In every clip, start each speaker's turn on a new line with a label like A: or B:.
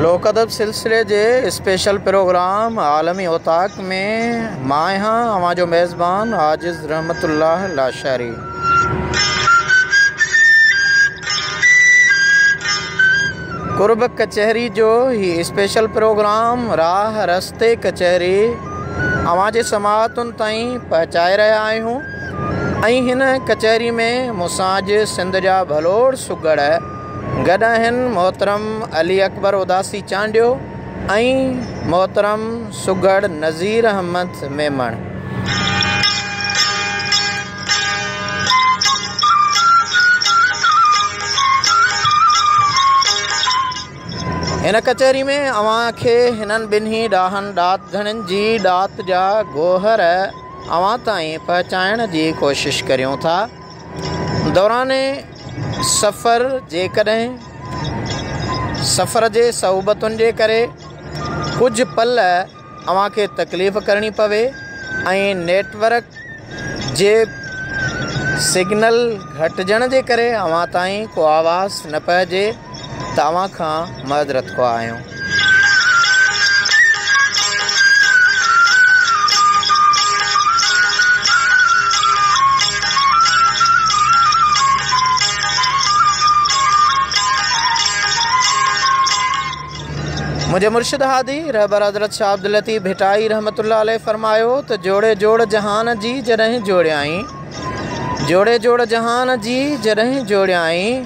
A: لوڪ ادب سلسلي جي اسپيشل پروگرام عالمي اوطاق حق ۾ مان آهيان اوهان جو ميزبان عاجز رحمت الله لاشاري. قرب ڪچهري جو هي اسپيشل پروگرام راهه رستي ڪچهري اوهان جي سماعتن تائين پهچائي رهيا آهيون ۽ هن ڪچهري ۾ مون سان اڄ سنڌ جا ڀلوڙ سگهڙ گڏ آهن محترم علي اڪبر اداسي چانڊيو ۽ محترم سگهڙ نذير احمد ميمڻ. هن ڪچهري ۾ اوهان کي هنن ٻنهي ڏاهن ڏات ڌڻين جي ڏات جا گوهر اوهان تائين پهچائڻ جي ڪوشش ڪريون ٿا. دوران سفر، جيڪڏهن سفر جي صعوبتن جي ڪري ڪجهه پل اوهان کي تڪليف ڪرڻي پوي ۽ نيٽ ورڪ جي سگنل گهٽجڻ جي ڪري اوهان تائين ڪو آواز نه پهجي توهان کان مدد رٿخواهه آهيون. منهنجي مرشد هادي رهبر حضرت شاهه عبداللطيف ڀٽائي رحمة الله عليه فرمايو ته جوڙي جوڙ جهان جي جڏهن جوڙيائين جوڙي جوڙ جهان جي جڏهن جوڙيائين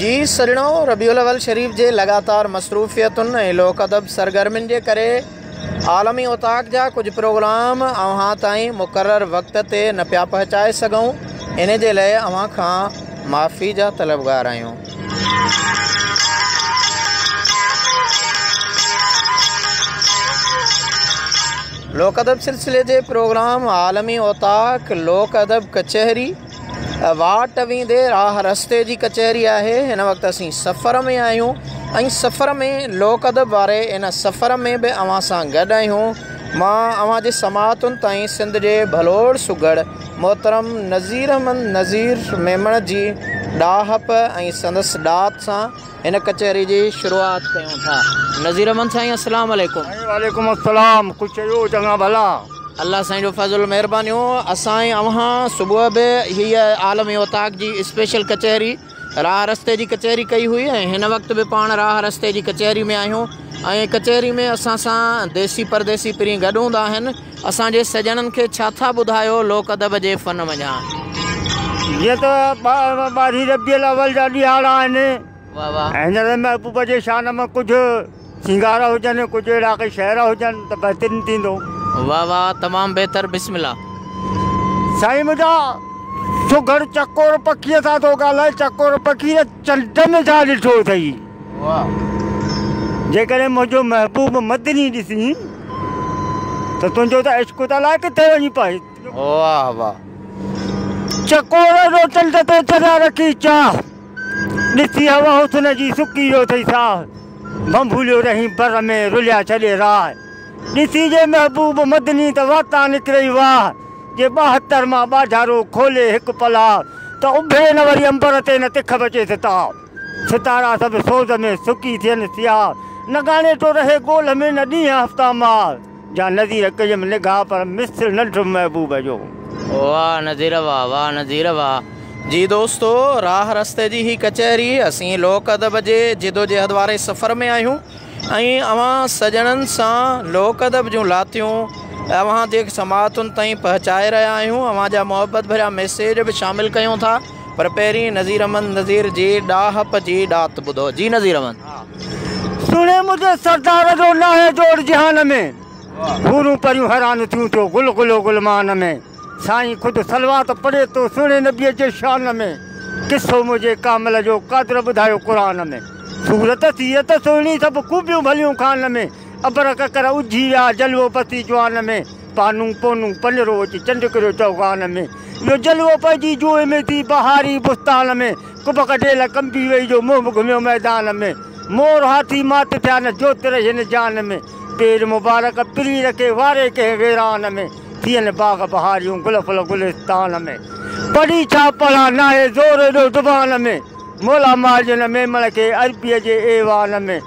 A: جي سرڻو ربيع الاول شريف جي لڳاتار مصروفيتن ۽ لوڪ ادب سرگرمين جي ڪري عالمي اوطاق جا ڪجهه پروگرام اوهان تائين مقرر وقت تي نه پيا پهچائي سگهون ان جي لئه اوهان کان معافي جا طلبگار آهيون. لوڪ ادب سلسلي جي پروگرام عالمي اوطاق لوڪ ادب ڪچهري. واٽ ويندي راهه رستي جي ڪچهري آهي هن وقت اسين سفر ۾ آهيون ۽ سفر ۾ لوڪ ادب واري ان سفر ۾ به اوهان سان گڏ آهيون مان اوهان جي سماعتن تائين سنڌ جي ڀلوڙ سگهڙ محترم نظير احمد نظير ميمڻ جي ڏاهپ ۽ سندس ڏات سان هن ڪچهري جي شروعات ڪيون ٿا نظير احمد سائين السلام عليڪم. سائين وعليڪم السلام
B: ڪجھ چيو چڱا ڀلا. الله سائين جو
A: فضل مهربانيون اسان ۽ اوهان صبح به هيء عالم اوطاق جي اسپيشل ڪچهري راهه رستي جي ڪچهري ڪئي هئي ۽ هن وقت به پاڻ راهه رستي جي ڪچهري ۾ آهيون ۽ ڪچهري ۾ اسان سان ديسي پرديسي پرين گڏ هوندا آهن اسان جي سڄڻن کي ڇا ٿا ٻڌايو لوڪ ادب جي فن وڃان
B: جيئن ته ٻارهين ربيع الاول جا ڏهاڙا آهن ۽ هن
A: ري محبوب جي
B: شان ۾ ڪجهه سينگارا هجن ڪجهه اهڙا ڪي شعرا هجن ته بهترين ٿيندو. واه واه
A: تمام بهتر بسم الله.
B: سائين منهنجا سگهڙ چڪور پکيء سان ٿو ڳالهائي چڪور پکي ته چنڊ ۾ ڇا ڏٺو اٿئي جيڪڏهن منهنجو محبوب مدني ڏسين ته تنهنجو ته عشق ته الائي ڪٿي وڃي پاهي واه واه چڪور جو چنڊ تي چريا رکي چاهه. ڏسي هوا حسن جي سڪي ويو اٿئي ساهه، ڀنڀوليو رهين بر ۾ رليا ڇڏي راهه. ڏسي جي محبوب مدني ته واتان نڪرئي واهه، جي ٻاهتر مان ٻاجهارو کولي هڪ پلاهه، ته اڀري نه وري امبر تي نه تک بچيس تاهه. ستارا سڀ سوز ۾ سڪي ٿين سياهه، نه ڳاڻيٽو رهي ڳولهه ۾ نه ڏينهن هفتا ماهه. جا نذير ڪيم نگاهه پر مثل نه ڏٺم محبوب جو. واھ نذير
A: واھ واھ نذير واھ. جي دوستو راھ رستي جي هي ڪچهري اسين لوڪ ادب جي جدوجهد واري سفر ۾ آهيون ۽ اوهان سڄڻن سان لوڪ ادب جون لاتيون اوهان جي سماعتن تائين پهچائي رهيا آهيون اوهان جا محبت ڀريا ميسيج به شامل ڪيون ٿا پر پهرين نذير احمد نذير جي ڏاهپ جي ڏات ٻڌو جي نذير احمد. سڻي منهنجي
B: سردار جو ناهي جوڙ جهان ۾، حورون پريون حيران ٿيون ٿيو گل گلو گلمان ۾، سائين خود صلوات پڙهي ٿو سهڻي نبيء جي شان ۾، قصو منهنجي ڪامل جو قادر ٻڌايو قرآن ۾، صورت سيئت سهڻي سڀ خوبيون ڀليون خان ۾، ابر ڪڪر اجهي ويا جلوو پسي جوان ۾، پانون پونون پنرو اچي چنڊ ڪريو چوغان ۾، اهو جلوو پنهنجي جوء ۾ ٿي بهاري بستان ۾. ڪٻ ڪڍي نه ڪنبي وئي جو منهن به گهميو ميدان ۾، مور هاٿي مات ٿيا نه جوت رهي هن جان ۾، پير مبارڪ پرين رکي واري ڪنهن ويران ۾، ٿين باغ بهاريون گل ڦل گلستان ۾، پڙهي ڇا پڙهان ناهي زور ايڏو زبان ۾، مولا مارجن ميمڻ کي عربيء جي ايوان ۾.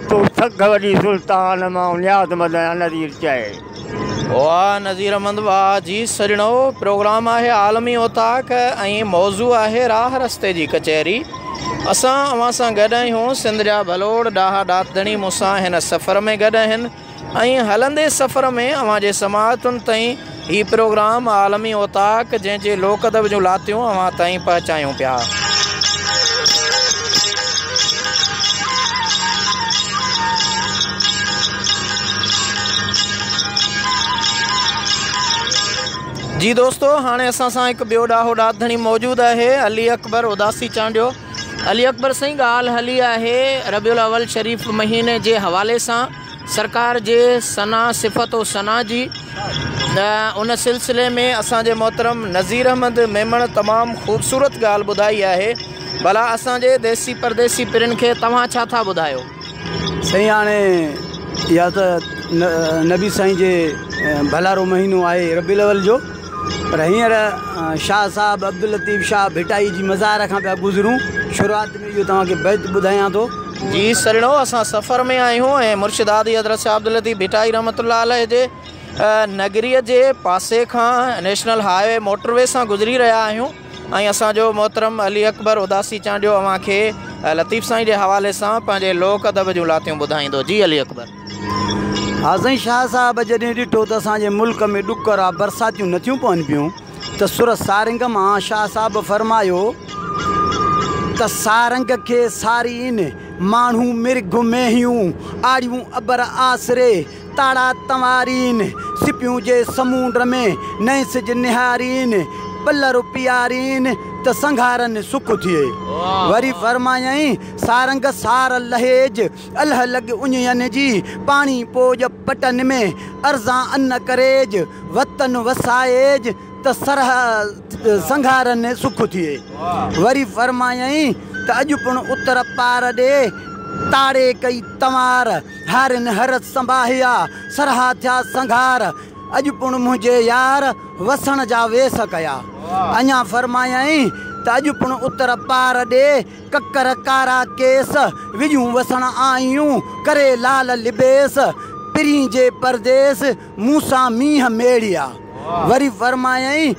B: تو سگهه وڏي سلطان، مان نياز مند آهيان نذير چئي. واه
A: نذير احمد واه جي سڄڻو پروگرام آهي عالمي اوطاق ۽ موضوع آهي راهه رستي جي ڪچهري اسان اوهان سان گڏ آهيون سنڌ جا ڀلوڙ ڏاها ڏاتڌڻي مون سان هن سفر ۾ گڏ آهن ائين هلندي سفر ۾ اوهان جي سماعتن تائين هي پروگرام عالمي اوطاق جنهن جي لوڪ ادب جون لاتيون اوهان تائين پهچايون پيا. جي دوستو هاڻي اسان سان هڪ ٻيو ڏاهو ڏات ڌڻي موجود آهي علي اڪبر اداسي چانڊيو. علي اڪبر سائين ڳالهه هلي آهي ربيع الاول شريف مهيني جي حوالي سان سرڪار جي ثنا صفت و ثنا جي ته ان سلسلي ۾ اسان جي محترم نظير احمد ميمڻ تمام خوبصورت ڳالهه ٻڌائي آهي ڀلا اسان جي ديسي پرديسي پرين کي توهان ڇا ٿا ٻڌايو. سائين
C: هاڻي اها ته نبي سائين جي ڀلارو مهينو آهي ربيع الاول جو پر هينئر شاهه صاحب عبداللطيف شاهه ڀٽائي جي مزار کان پيا گذرون شروعات ۾ اهو توهان کي بيت ٻڌايان ٿو جي سهڻو
A: اسان سفر ۾ آهيون ۽ مرشد هادي حضرت شاهه عبداللطيف ڀٽائي رحمة الله عليه جي نگريء جي پاسي کان national highway motorway سان گذري رهيا آهيون ۽ اسان جو محترم علي اڪبر اداسي چانڊيو اوهان کي لطيف سائين جي حوالي سان پنهنجي لوڪ ادب جون لاتيون ٻڌائيندو جي علي اڪبر. ها
C: سائين شاهه صاحب جڏهن ڏٺو ته اسان جي ملڪ ۾ ڏڪ را برساتيون نٿيون پون پيون ته سر سارنگ مان شاهه صاحب فرمايو ته سارنگ کي سارين ماڻهون مرگ مينهيون آڙيون ابر آسري تاڙا تنوارين، سپيون جي سمونڊ ۾، نئين سج نهارين، پل رو پيارين، ته سنگهارن سک ٿئي. وري فرمايائين، سارنگ سار لهيج، الهه لڳ اڃين جي، پاڻي پوڄ پٽن ۾، ارزان ان ڪريج، وطن وسائيج، ته سرهه سنگهارن سک ٿئي. وري فرمايائين، ته اڄ پڻ اتر پار ڏي، تاڙي ڪئي تنوار، ڌارين هرس سنباهيا، سرها ٿيا سنگهار، اڄ پڻ منهنجي يار، وسڻ جا ويس ڪيا. اڃا فرمايائين ته اڄ پڻ اتر پار ڏي، ڪڪر ڪارا ڪيس، وڄون وسڻ آئيون، ڪري لال لبيس، پرين جي پرديس، مون سان مينهن ميڙيا. وري فرمايائين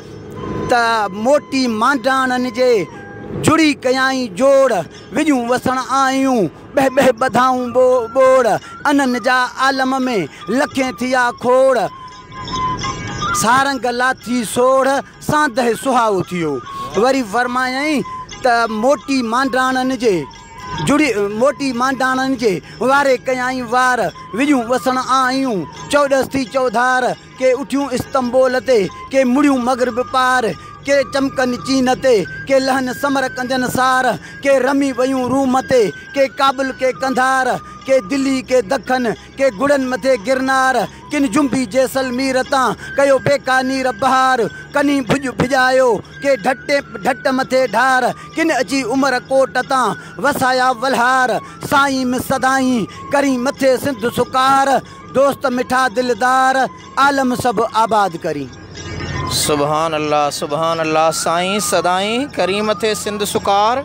C: ته موٽي مانڊاڻن جي، جڙي ڪيائين جوڙ، وڄون وسڻ آئيون، ٻهه ٻهه ٻڌائون ٻو ٻوڙ، انهن جا عالم ۾ لکين ٿيا کوڙ. سارنگ لاٿي سوڙهه، سانده سهائو ٿيو. وري فرمايائين ته موٽي مانڊاڻن جي، جڙي موٽي مانڊاڻن جي، واري ڪيائين وار، وڄون وسڻ آئيون، چؤڏس ٿي چؤڌار. ڪي اٿيون استنبول تي، ڪي مڙيون مغرب پار، ڪي چمڪن چين تي، ڪي لهن سمر ڪنجن سار، ڪي رمي ويون روم تي، ڪي ڪابل ڪي قنڌار، ڪي دلي ڪي دکن، ڪي گڙن مٿي گرنار، ڪن جنبي جيسلمير تان، ڪيو بيڪانير بهار، ڪنين ڀڄ ڀڄايو، ڪي ڍٽي ڍٽ مٿي ڍار، ڪن اچي عمر ڪوٽ تان، وسايا ولهار، سائين م سدائين، ڪرين مٿي سنڌ سڪار. دوست مٺا دلدار عالم سڀ آباد ڪرين. سبحان
A: الله سبحان الله سائين سدائين ڪريم ٿي سنڌ سڪار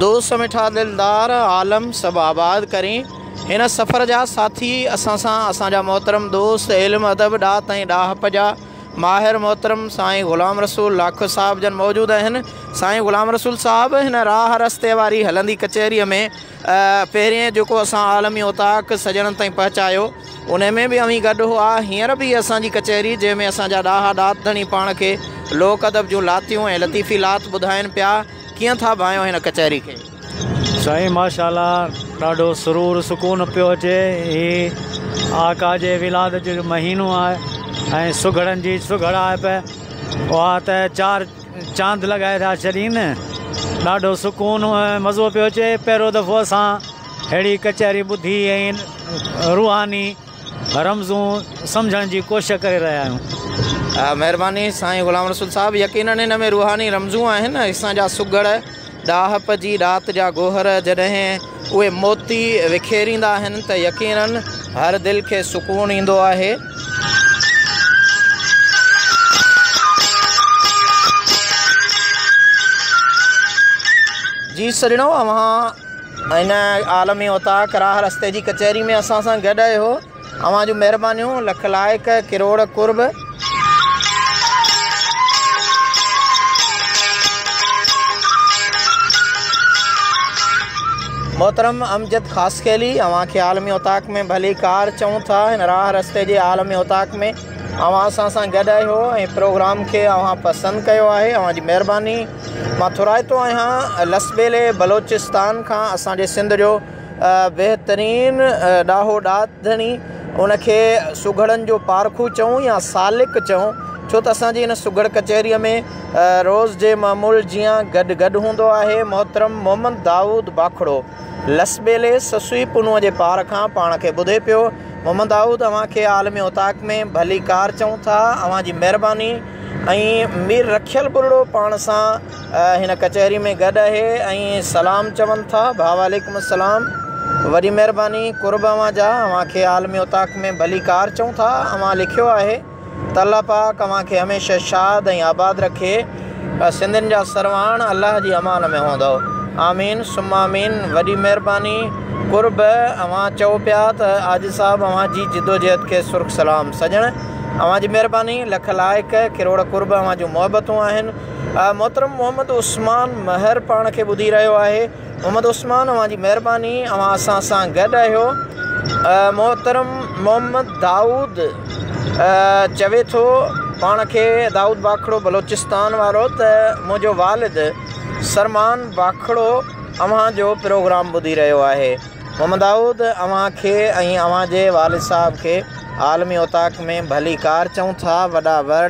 A: دوست مٺا دلدار عالم سڀ آباد ڪرين هن سفر جا ساٿي اسان سان اسان جا محترم دوست علم ادب ڏات ۽ ڏاهپ جا ماهر محترم سائين غلام رسول لاکو صاحب جن موجود اهن سائين غلام رسول صاحب هن راهه رستي واري هلندي ڪچهري ۾ پهرين جيڪو اسان عالمي اوطاق سڄڻن تائين پهچايو، انهي ۾ به اوهين گڏ هئا. هينئر به هيء اسان جي ڪچهري، جنهن ۾ اسان جا ڏاها ڏات ڌڻي پاڻ کي لوڪ ادب جون لاتيون ۽ لطيفي لات ٻڌائين پيا. ڪيئن ٿا ڀانئيو هن ڪچهري کي؟ سائين
D: ماشاءالله ڏاڍو سرور سڪون پيو اچي هي آقا جي ولادت جو مهينو آهي ۽ سگهڙن جي سگهڙائپ اها ته چار چاند لڳائي ٿا ڇڏين. ڏاڍو سڪون ۽ مزو پيو اچي. پهريون دفعو اسان اهڙي ڪچهري ٻڌي ۽ روحاني رمزون سمجهڻ جي ڪوشش ڪري رهيا آهيون. مهرباني سائين
A: غلام رسول صاحب يقينن هن ۾ روحاني رمزون آهن اسان جا سگهڙ. ڏاهپ جي رات جا گوهر جڏهن اهي موتي وکيريندا آهن ته يقيناً هر دل کي سڪون ايندو آهي. جي سڄڻو اوهان هن عالمي اوطاق راه رستي جي ڪچهري ۾ اسان سان گڏ آهيو. اوهان جون مهربانيون لک لائق ڪروڙ قرب. محترم امجد خاصخيلي اوهان کي عالمي اوطاق ۾ ڀلي ڪار چئون ٿا هن راهه رستي جي عالمي اوطاق ۾ اوهان اسان سان گڏ اهو ۽ پروگرام کي اوهان پسند ڪيو آهي اوهان جي مهرباني مان ٿورائتو آهيان لسٻيلي بلوچستان کان اسان جي سنڌ جو بهترين ڏاهو ڏات ڌڻي ان کي سگهڙن جو پارکو چئون يا سالڪ چئون ڇو ته اسان جي هن سگهڙ ڪچهريء ۾ روز جي معمول جيان گڏ گڏ هوندو آهي محترم محمد دائود باکڙو لسٻيلي سسئي پنهونء جي پار کان پاڻ کي ٻڌي پيو محمد دائود اوهان کي عالمي اوطاق ۾ ڀليڪار چئون ٿا اوهان جي مهرباني ۽ مير رکيل ٻرڙو پاڻ سان هن ڪچهري ۾ گڏ اهي ۽ سلام چون ٿا ڀاء وعليڪم السلام وڏي مهرباني قرب اوهان جا اوهان کي عالمي اوطاق ۾ ڀلي ڪار چئون ٿا اوهان لکيو آهي ته الله پاڪ اوهان کي هميشه شاد ۽ آباد رکي سنڌين جا سرواڻ الله جي امان ۾ هوندؤ آمين ثم آمين وڏي مهرباني قرب اوهان چئو پيا ته عاجز صاحب اوهان جي جدوجهد کي سرخ سلام سڄڻ اوهان جي مهرباني لک لائق ڪروڙ قرب اوهان جون محبتون آهن محترم محمد عثمان مهر پاڻ کي ٻڌي رهيو آهي. محمد عثمان اوهان جي مهرباني اوهان اسان سان گڏ آهيو. محترم محمد دائود چوي ٿو پاڻ کي دائود باکڙو بلوچستان وارو ته منهنجو والد سرمان باکڙو اوهان جو پروگرام ٻڌي رهيو آهي. محمد دائود اوهان کي ۽ اوهان جي والد صاحب کي عالمي اوطاق ۾ ڀلي ڪار چئون ٿا وڏا وڙ.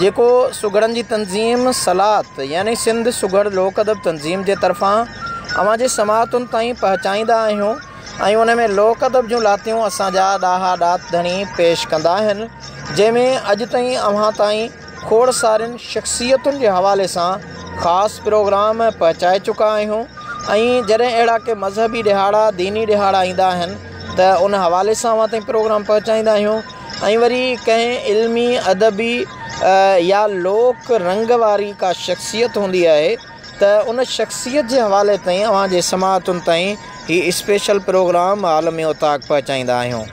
A: جيڪو سگهڙن جي تنظيم سلات يعني سنڌ سگهڙ لوڪ ادب تنظيم جي طرفان اوهان جي سماعتن تائين پهچائيندا آهيون ۽ ان ۾ لوڪ ادب جون لاتيون اسان جا ڏاها ڏات ڌڻي پيش ڪندا آهن جنهن ۾ اڄ تائين اوهان تائين کوڙ سارين شخصيتن جي حوالي سان خاص پروگرام پهچائي چڪا آهيون ۽ جڏهن اهڙا ڪي مذهبي ڏهاڙا ديني ڏهاڙا ايندا آهن ته ان حوالي سان اوهان تائين پروگرام پهچائيندا آهيون ۽ وري ڪنهن علمي، ادبي يا لوڪ رنگ واري ڪا شخصيت هوندي آهي ته ان شخصيت جي حوالي تائين اوهان جي سماعتن تائين هي اسپيشل پروگرام عالم اوطاق پهچائيندا آهيون.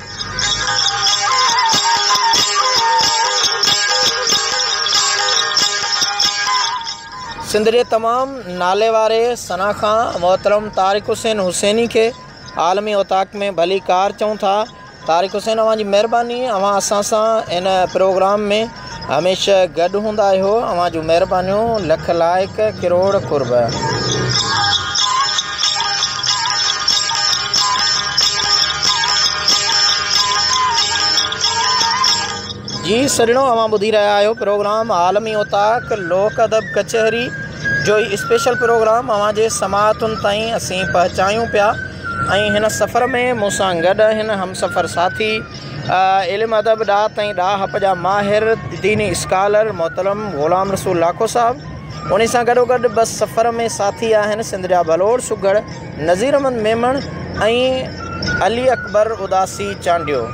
A: سنڌ جي تمام ناليواري ثناخوان محترم طارق حسين حسيني کي عالم اوطاق ۾ ڀليڪار چئون ٿا طارق حسين اوهان جي مهرباني اوهان اسان سان ان پروگرام ۾ هميشه گڏ هوندا آهيو اوهان جون مهربانيون لک لائق ڪروڙ قرب. جي سڄڻو اوهان ٻڌي رهيا آهيو پروگرام عالمي اوطاق لوڪ ادب ڪچهري جو هي اسپيشل پروگرام اوهان جي سماعتن تائين اسين پهچايون پيا ۽ هن سفر ۾ مون سان گڏ هن همسفر ساٿي، علم ادب، ڏات ۽ ڏاهپ جا ماهر، ديني اسڪالر محترم غلام رسول لاکو صاحب، انهي سان گڏوگڏ بس سفر ۾ ساٿي آهن سنڌ جا ڀلوڙ سگهڙ نظير احمد ميمڻ ۽ علي اڪبر اداسي چانڊيو.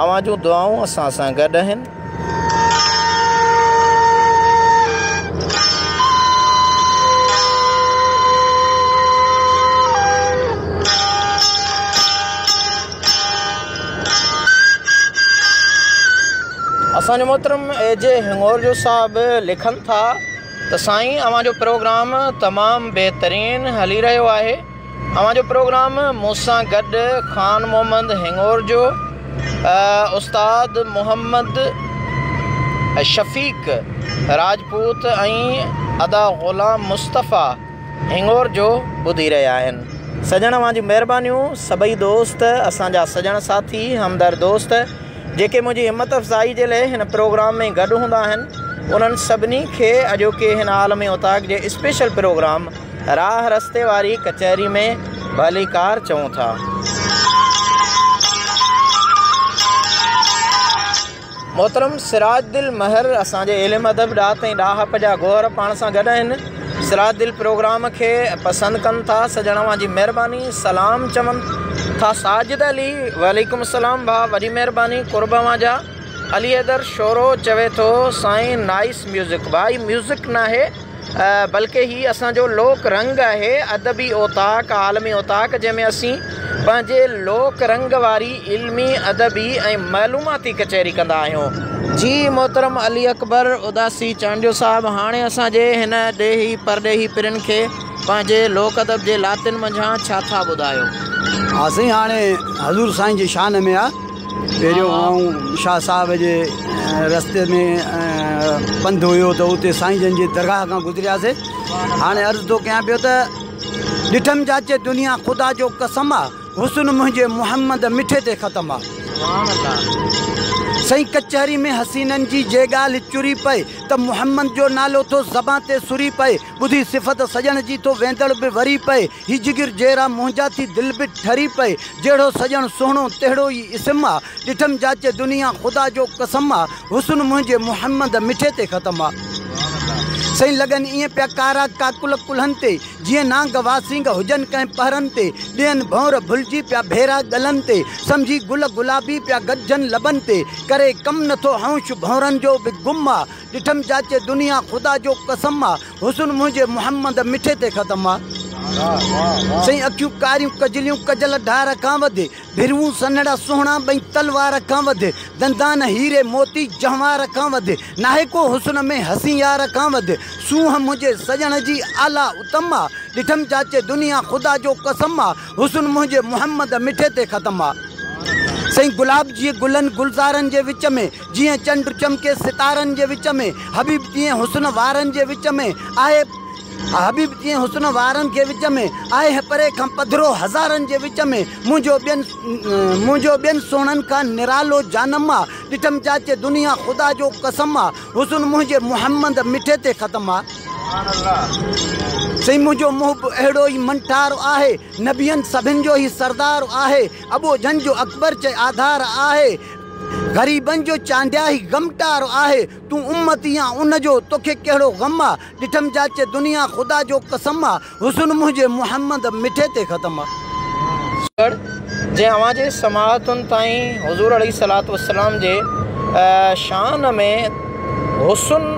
A: اوهان جون دعائون اسان سان گڏ آهن. اسان جو محترم اي جي هڱور جو صاحب لکن ٿا ته سائين اوهان جو پروگرام تمام بهترين هلي رهيو آهي اوهان جو پروگرام مون سان گڏ خان محمد هڱور جو استاد محمد شفيق راجپوت ۽ ادا غلام مصطفيٰ هڱور جو ٻڌي رهيا آهن سڄڻ اوهان جون مهربانيون سڀئي دوست اسان جا سڄڻ ساٿي همدرد دوست جيڪي منهنجي همت افزائي جي لئي هن پروگرام ۾ گڏ هوندا آهن انهن سڀني کي اڄوڪي هن عالمي اوطاق جي اسپيشل پروگرام راهه رستي واري ڪچهري ۾ ڀليڪار چئون ٿا. محترم سراج دل مهر اسان جي علم ادب ڏات ۽ ڏاهپ جا گوهر پاڻ سان گڏ آهن سراج دل پروگرام کي پسند ڪن ٿا سڄڻ اوهان جي مهرباني سلام چون ٿا ساجد علي وعليڪم السلام ڀاء وڏي مهرباني قرب اوهان جا علي حيدر شورو چوي ٿو سائين نائس ميوزڪ ڀاء هي ميوزڪ ناهي بلڪه هي اسان جو لوڪ رنگ آهي، ادبي اوطاق، عالمي اوطاق جنهن ۾ اسين پنهنجي لوڪ رنگ واري علمي، ادبي ۽ معلوماتي ڪچهري ڪندا آهيون. جي محترم علي اڪبر اداسي چانڊيو صاحب هاڻي اسان جي هن ڏيهي پرڏيهي پرين کي پنهنجي لوڪ ادب جي لاتين منجهان ڇا ٿا ٻڌايو. ها سائين
C: هاڻي حضور سائين جي شان ۾ آ. پهريون آئون شاهه صاحب جي رستي ۾ پنڌ هيو ته اتي سائين جن جي درگاهه کان گذرياسي هاڻي عرض ٿو ڪيان پيو ته ڏٺم چاچي دنيا خدا جو قسم آ حسن منهنجي محمد مٺي تي ختم آ سائين ڪچهري ۾ حسينن جي جي ڳالهه چري پئي ته محمد جو نالو ٿو زبان تي سري پئي ٻڌي صفت سڄڻ جي ٿو ويندڙ به وري پئي هي جگر جيرا منهنجا ٿي دل به ٺري پئي جهڙو سڄڻ سهڻو تهڙو ئي اسم آ ڏٺم جاچي دنيا خدا جو قسم آ حسن منهنجي محمد مٺي تي ختم آ سائين لڳن ائين پيا ڪارا ڪاڪل ڪلهن تي جيئن نانگ واسينگ هجن ڪنهن پهرن تي ڏين ڀونر ڀلجي پيا ڀيرا ڳلن تي سمجهي گل گلابي پيا گڏجن لبن تي ڪري ڪم نٿو هئونش ڀونرن جو به گم آ ڏٺم چاچي دنيا خدا جو قسم آ. حسن منهنجي محمد مٺي تي ختم آ. سائين اکيون ڪاريون ڪجليون ڪجل ڍار کان وڌي. ڀروون سنهڙا سهڻا ٻئي تلوار کان وڌي. دندان هيري موتي جهنوار کان وڌي. ناهي ڪو حسن ۾ حسين يار کان وڌي. سونهن منهنجي سڄڻ جي اعليٰ اتم آ. ڏٺم چاچي دنيا خدا جو قسم آ. حسن منهنجي محمد مٺي تي ختم آ. سائين گلاب جي گلن گلزارن جي وچ ۾. جيئن چنڊ چمڪي ستارن جي وچ ۾، حبيب تيئن حسن وارن جي وچ ۾ آهي، حبيب تيئن حسن وارن کي وچ ۾، آهي هي پري کان پڌرو هزارن جي وچ ۾، منهنجو ٻين منهنجو ٻين سهڻن کان نرالو جانم آ، ڏٺم جاچي دنيا خدا جو قسم آ، حسن منهنجي محمد مٺي تي ختم آ. سائين منهنجو محب اهڙو ئي منٺار آهي، نبين سڀن جو هي سردار آهي، ابو جھن جو اڪبر چئي آڌار آهي، غريبن جو چانڊيا هي غمٽارو آهي تون امتي آن ان جو توکي ڪهڙو غم آ ڏٺم جاچي دنيا خدا جو قسم آ حسن منهنجي محمد مٺي تي ختم آ. سوگڙ جي اوهان
A: جي سماعتن تائين حضور عليه الصلوة والسلام جي شان ۾ حسن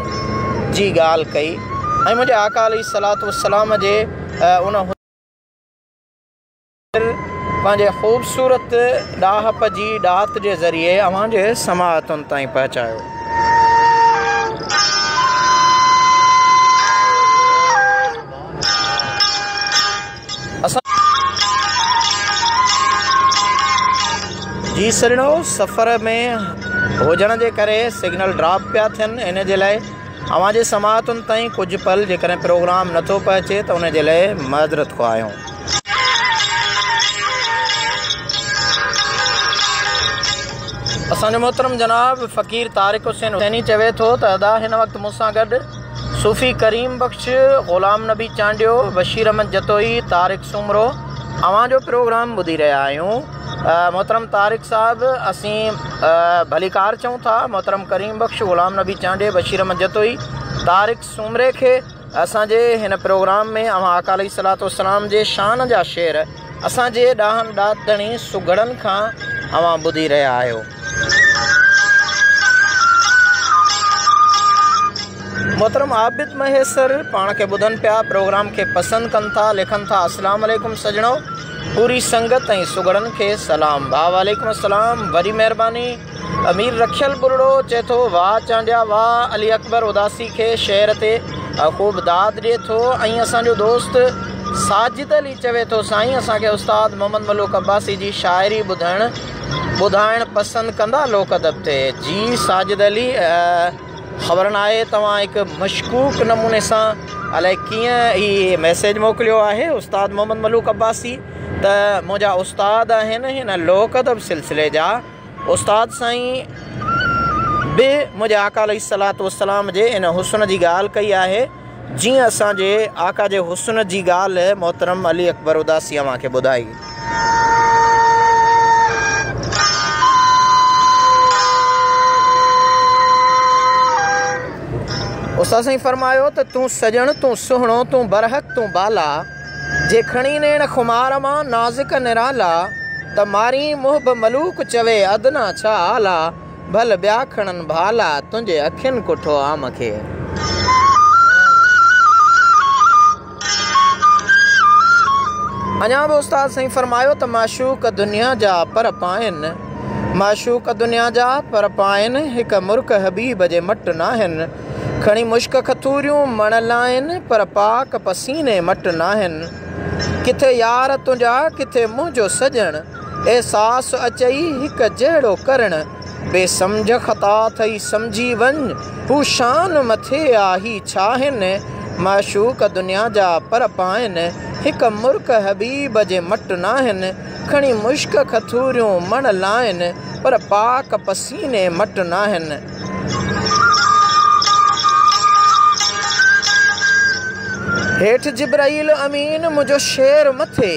A: جي ڳالهه ڪئي ۽ منهنجي آقا عليه الصلوة والسلام جي ان حسن شاعر پنهنجي خوبصورت ڏاهپ جي ڏات جي ذريعي اوهان جي سماعتن تائين پهچايو. جي سرڻو سفر ۾ هجڻ جي ڪري سگنل ڊراپ پيا ٿين ان جي لاء اوهان جي سماعتن تائين ڪجهه پل جيڪڏهن پروگرام نه ٿو پهچي ته ان جي لئه معذرت خواهيون. اسان جو محترم جناب فقير طارق حسين حسيني چوي ٿو ته ادا هن وقت مون سان گڏ صوفي ڪريم بخش، غلام نبي چانڊيو، بشير احمد جتوئي، طارق سومرو اوهان جو پروگرام ٻڌي رهيا آهيون. محترم طارق صاحب اسين ڀليڪار چئون ٿا محترم ڪريم بخش غلام نبي چانڊيي بشير احمد جتوئي طارق سومري کي اسان جي هن پروگرام ۾ اوهان آقا عليه الصلوة والسلام جي شان جا شعر اسان جي ڏاهن ڏات ڌڻي سگهڙن کان اوهان ٻڌي رهيا آهيو محترم عابد مهيسر پاڻ کي ٻڌن پيا پروگرام کي پسند ڪن ٿا لکن ٿا اسلام عليڪم سڄڻو پوري سنگت ۽ سگهڙن کي سلام ڀاء وعليڪم السلام وڏي مهرباني امير رکيل ٻرڙو چئي ٿو واھ چانڊيا واھ علي اڪبر اداسي کي شعر تي خوب داد ڏئي ٿو ۽ اسان جو دوست ساجد علي چوي ٿو سائين اسان کي استاد محمد ملوڪ عباسي جي شاعري ٻڌائڻ ٻڌائڻ پسند ڪندا لوڪ ادب تي؟ جي ساجد علي خبر ناهي توهان هڪ مشڪوڪ نموني سان الائي ڪيئن هي ميسيج موڪليو آهي استاد محمد ملوڪ عباسي ته منهنجا استاد آهن هن لوڪ ادب سلسلي جا استاد سائين به منهنجي آقا عليه الصلوة والسلام جي ان حسن جي ڳالهه ڪئي آهي جيئن اسان جي آقا جي حسن جي ڳالهه محترم علي اڪبر اداسي اوهان کي ٻڌائي. استاد سائين فرمايو ته تون سڄڻ، تون سهڻو، تون برحق، تون بالا، جي کڻي نيڻ خمار مان نازڪ نرالا، ته مارين محب ملوڪ چوي ادنيٰ ڇا اعليٰ. ڀل ٻيا کڻن ڀالا، تنهنجي اکين ڪٺو عام کي. اڃا به استاد سائين فرمايو ته معشوق دنيا جا پر پائن، معشوق دنيا جا پر پائن، هڪ مرڪ حبيب جي مٽ ناهن، کڻي مشڪ کٿوريون مڻ لائن، پر پاڪ پسيني مٽ ناهن، ڪٿي يار تنهنجا ڪٿي منهنجو سڄڻ. احساس اچئي هڪ جهڙو ڪرڻ، بي سمجهه خطا ٿئي سمجهي وڃ، هو شان مٿي آ هي ڇا هن، معشوق دنيا جا پر پائن، هڪ مرڪ حبيب جي مٽ ناهن، کڻي مشڪ کٿوريون مڻ لائن، پر پاڪ پسيني مٽ ناهن. هيٺ جبرئيل امين منهنجو شعر مٿي.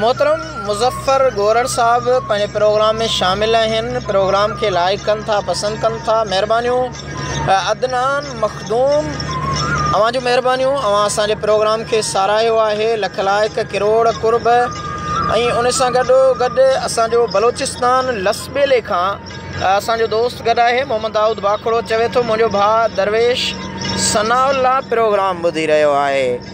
A: محترم مظفر گورڙ صاحب پنهنجي پروگرام ۾ شامل آهن پروگرام کي لائيڪ ڪن ٿا پسند ڪن ٿا مهربانيون عدنان مخدوم اوهان جون مهربانيون اوهان اسان جي پروگرام کي ساراهيو آهي لک لائيڪ ڪروڙ قرب ۽ ان سان گڏو گڏ اسان جو بلوچستان لسٻيلي کان اسان جو دوست گڏ آهي محمد دائود باکڙو چوي ٿو منهنجو ڀاء درويش ثناء الله پروگرام ٻڌي رهيو آهي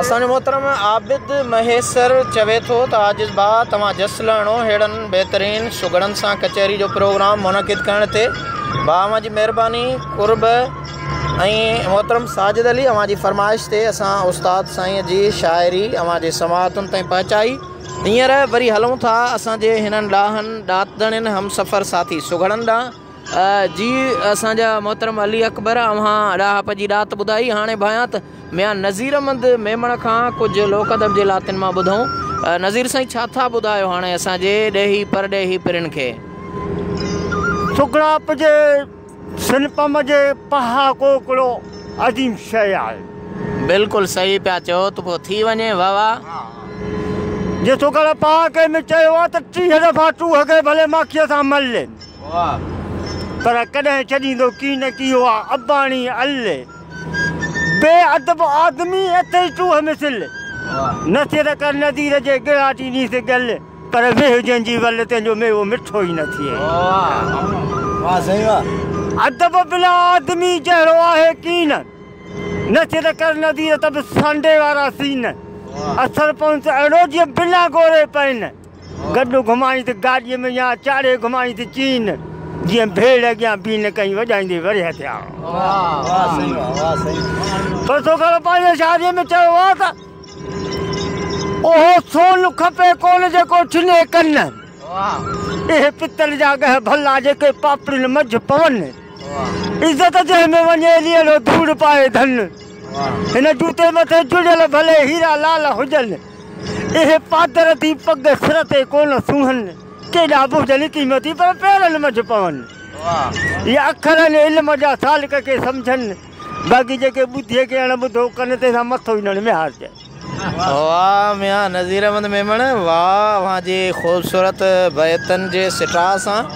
A: اسان جو محترم عابد مهيسر چوي ٿو ته عاجز ڀاء توهان جس لهڻو ههڙن بهترين سگهڙن سان ڪچهري جو پروگرام منعقد ڪرڻ تي ڀاء اوهان جي مهرباني قرب ۽ محترم ساجد علي اوهان جي فرمائش تي اسان استاد سائين جي شاعري اوهان جي سماعتن تائين پهچائي هينئر وري هلون ٿا اسان جي هنن ڏاهن ڏاتدڻين همسفر ساٿي سگهڙن ڏانهن جي اسان جا محترم علي اڪبر اوهان ڏاهپ جي ڏات ٻڌائي هاڻي ڀانيان ته ميان نظير احمد ميمڻ کان ڪجهه لوڪ ادب جي لاتين مان ٻڌون نظير سائين ڇا ٿا ٻڌايو هاڻي اسان جي ڏيهي پرڏيهي پرين کي. سگهڙائپ
B: جي سنپم جي پهاڪو ڪڙو عظيم شيء آهي. بلڪل
A: صحيح پيا چئو ته پوء ٿي وڃي واهه واهه.
B: جي سگهڙ پهاڪي ۾ چيو آهي ته ٽيهه دفعا ٽوهڪي ڀلي ماکيء سان ملين. پر ڪڏهن ڇڏيندو ڪي نه ڪي اها اباڻي الھ بي ادب آدمي اٿئي چوهه مثل نه سر ڪر نذير جي ڳراٽي نيس ڳل پر ويهه جنهن جي ول تنهنجو ميوو مٺو ئي نه ٿئي
C: ادب بلا
B: آدمي جهڙو آهي ڪين نه سر ڪر نذير ته به سانڊي وارا سين اثر پونس اهڙو جيئن بنا گوري پين. گڏ گهمائين ته گاڏيء ۾ يا چاڙهي گهمائين ته چين جيئن ڀيڙ اڳيان بيهي نه ڪئين وڄائيندي ورهيه ٿيا پر سوکڙو پنهنجي شاعريء ۾ چيو آهي ته اهو سون کپي ڪونه جيڪو ڇني ڪن اهي پتل جا ڳهه ڀلا جيڪي پاپڙين منجهه پون عزت جنهن ۾ وڃي ليلو ڌوڙ پائي ڌن هن جوتي مٿي جڙيل ڀلي هيرا لال هجن. اهي پادر ٿي پڳ سر تي ڪونه سونهن، ڪيڏا به هجن قيمتي پر پيرن منجهه پون. اهي اکر آهن علم جا سالڪ ڪي سمجهن، باقي جيڪي ٻڌي ڪي اڻ ٻڌو ڪن، تنهن سان مٿو ئي نڙ ۾ هارجن. واه
A: ميان نذير احمد ميمڻ واه اوهان جي خوبصورت بيتن جي سٽاء سان.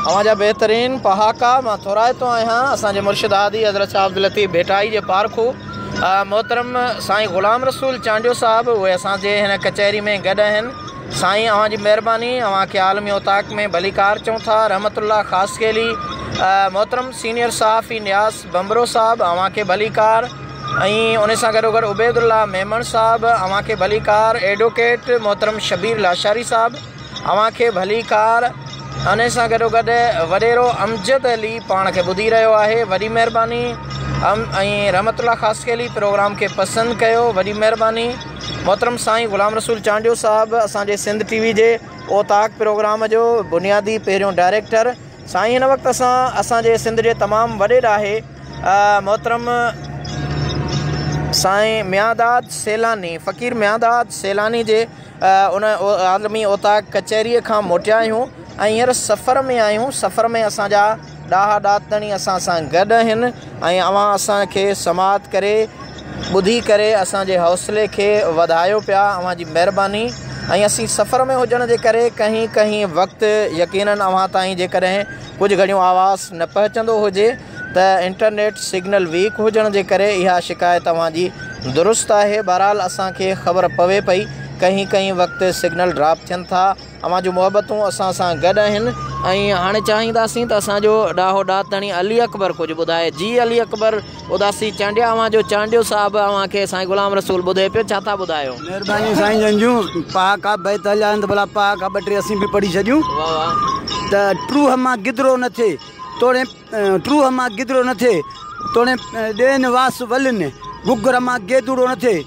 A: اوهان جا بهترين پهاڪا مان ٿورائتو آهيان اسان جي مرشد هادي حضرت شاهه عبداللطيف ڀيٽائي جي پارکو محترم سائين غلام رسول چانڊيو صاحب اهي اسان جي هن ڪچهري ۾ گڏ آهن سائين اوهان جي مهرباني اوهان کي عالمي اوطاق ۾ ڀليڪار چئون ٿا رحمت الله خاصخيلي محترم سينيئر صحافي نياز ڀنڀرو صاحب اوهان کي ڀليڪار ۽ ان سان گڏو گڏ عبيد الله ميمڻ صاحب اوهان کي ڀليڪار ايڊوڪيٽ محترم شبير لاشاري صاحب اوهان کي ڀليڪار ان سان گڏو گڏ وڏيرو امجد علي پاڻ کي ٻڌي رهيو آهي وڏي مهرباني ۽ رحمت الله خاصخيلي پروگرام کي پسند ڪيو وڏي مهرباني محترم سائين غلام رسول چانڊيو صاحب اسان جي سنڌ ٽي وي جي اوطاق پروگرام جو بنيادي پهريون ڊائريڪٽر سائين هن وقت اسان اسان جي سنڌ جي تمام وڏي ڏاهي محترم سائين ميانداد سيلاني فقير ميانداد سيلاني جي ان عالمي اوطاق ڪچهري کان موٽيا آهيون ۽ هينئر سفر ۾ آهيون سفر ۾ اسان جا ڏاها ڏاتڻي اسان سان گڏ آهن ۽ اوهان اسان کي سماعت ڪري ٻڌي ڪري اسان جي حوصلي کي وڌايو پيا اوهان جي مهرباني ۽ اسين سفر ۾ هجڻ جي ڪري ڪنهن ڪنهن وقت يقيناً اوهان تائين جيڪڏهن ڪجهه گهڙيون آواز نه پهچندو هجي ته انٽرنيٽ سگنل ويڪ هجڻ جي ڪري اها شڪايت اوهان جي درست آهي بهرحال اسان کي خبر پوي پئي ڪنهن ڪنهن وقت سگنل ڊراپ ٿين ٿا اوهان جون محبتون اسان سان گڏ آهن ۽ هاڻي چاهينداسين ته اسان جو ڏاهو ڏات ڌڻي علي اڪبر ڪجهه ٻڌائي. جي علي اڪبر اداسي چانڊيا اوهان جو چانڊيو صاحب اوهان کي سائين غلام رسول ٻڌي پيو ڇا ٿا ٻڌايو. مهرباني سائين جن
C: جون پهاڪا بيت هليا آهن ته ڀلا پهاڪا ٻه ٽي اسين به پڙهي ڇڏيون. واھ واھ. ته ٽروهه مان گدرو نه ٿئي توڻي ٽروهه مان گدرو نه ٿئي توڻي ڏين واس ولين گگرمان گيدوڙو نه ٿئي.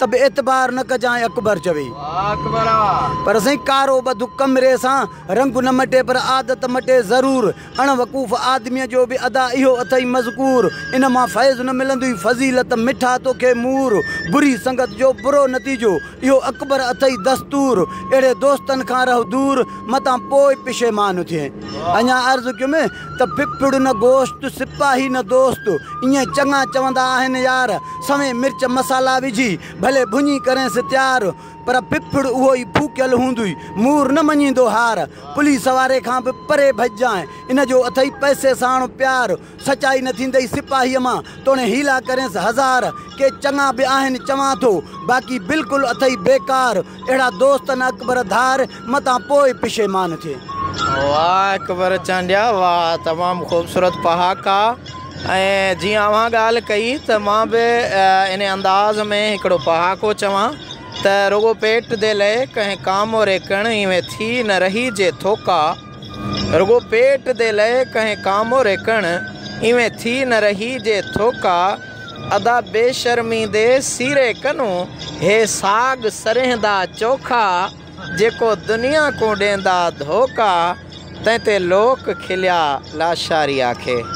C: ته به اعتبار نه ڪجانء اڪبر چوي. پر سائين ڪارو ٻڌ ڪمري سان رنگ نه مٽي پر عادت مٽي ضرور. اڻ وقوف آدميء جو به ادا اهو اٿئي مذڪور. ان مان فيض نه ملندئي فضيلت مٺا توکي مور. بري سنگت جو برو نتيجو اهو اڪبر اٿئي دستور. اهڙي دوستن کان رهه دور متان پوء پشيمان ٿئين. اڃا عرض ڪيم. ته پپڙ نه گوشت، سپاهي نه دوست، ائين چڱا چوندا آهن يار، سوين مرچ مصالا وجهي، ڀلي ڀڃي ڪرينس تيار، پر پپڙ اهو ئي ڦوڪيل هوندي، مور نه مڃيندو هار، پوليس واري کان به پري ڀڄجانء، ان جو اٿئي پئسي ساڻ پيار، سچائي نه ٿيندئي سپاهيء مان، توڻي حيلا ڪرينس هزار، ڪي چڱا به آهن چوان ٿو، باقي بلڪل اٿئي بيڪار، اهڙا دوست نه اڪبر ڌار متان پوء پشيمان ٿئي. واھ
A: اڪبر چانڊيا واھ تمام خوبصورت پهاڪا ۽ جيئن اوهان ڳالهه ڪئي ته مان به ان انداز ۾ هڪڙو پهاڪو چوان ته رڳو پيٽ دي لئي ڪنهن ڪاموري ڪڻ ايوين ٿي نه رهي جي ٿوڪا رڳو پيٽ دي لئي ڪهين ڪامو ريڪڻ، ايوين ٿي نه رهي جي ٿوڪا، ادا بي شرمي دي سيري ڪنون، هي ساڳ سرهندا چوکا، جيڪو دنيا ڪون ڏيندا ڌوڪا، تنهن تي لوڪ کليا لاشاري آکي.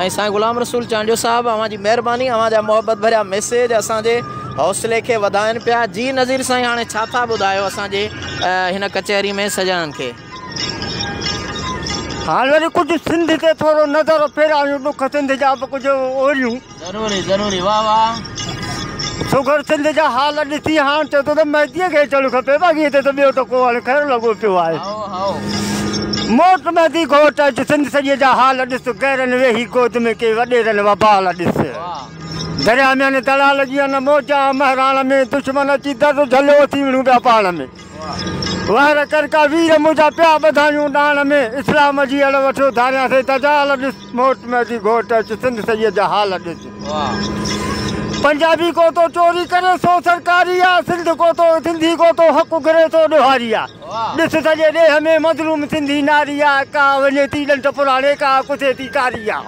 A: ۽ سائين غلام رسول چانڊيو صاحب اوهان جي مهرباني اوهان جا محبت ڀريا ميسيج اسان جي حوصلي کي وڌائن پيا جي نظير سائين هاڻي ڇا ٿا ٻڌايو اسان جي هن ڪچهري ۾ سڄڻن کي.
B: هاڻ وري ڪجهه سنڌ تي ٿورو نظر ڦيرايون ڏک سنڌ جا به ڪجهه اوريون. ضروري ضروري
A: واھ واھ. سگهڙ
B: سنڌ جا حال ڏسي هاڻ چئو ٿو ته مهديء کي اچڻ کپي باقي هتي ته ٻيو ته ڪو هاڻي خير لڳو پيو آهي. موٽ مهدي گهوٽ اچ سنڌ سڄي جا حال ڏس غيرن ويهي گود ۾ ڪئي وڏيرن وبال ڏس درياء ۾ ان دڙا لڳي ان موجا مهراڻ ۾ دشمن اچي در جهليو اٿي وڙهون پيا پاڻ ۾ وهر ڪرڪا وير منهنجا پيا ٻڌايون ڏاڻ ۾ اسلام جي اڙ وٺيو ڌاريان سي دجال ڏس. موٽ ۾ اچي گهوٽ اچ سنڌ سيد جا حال ڏس. پنجابي ڪوتو چوري ڪري سو سرڪاري آ سنڌ ڪوتو سنڌي ڪوتو حق گهري سو ڏوهاري آ ڏس سڄي ڏيھ ۾ مظلوم سنڌي ناري آ ڪا وڃي ٿي ڏنٺ پراڻي ڪا ڪٿي ٿي ڪاري آ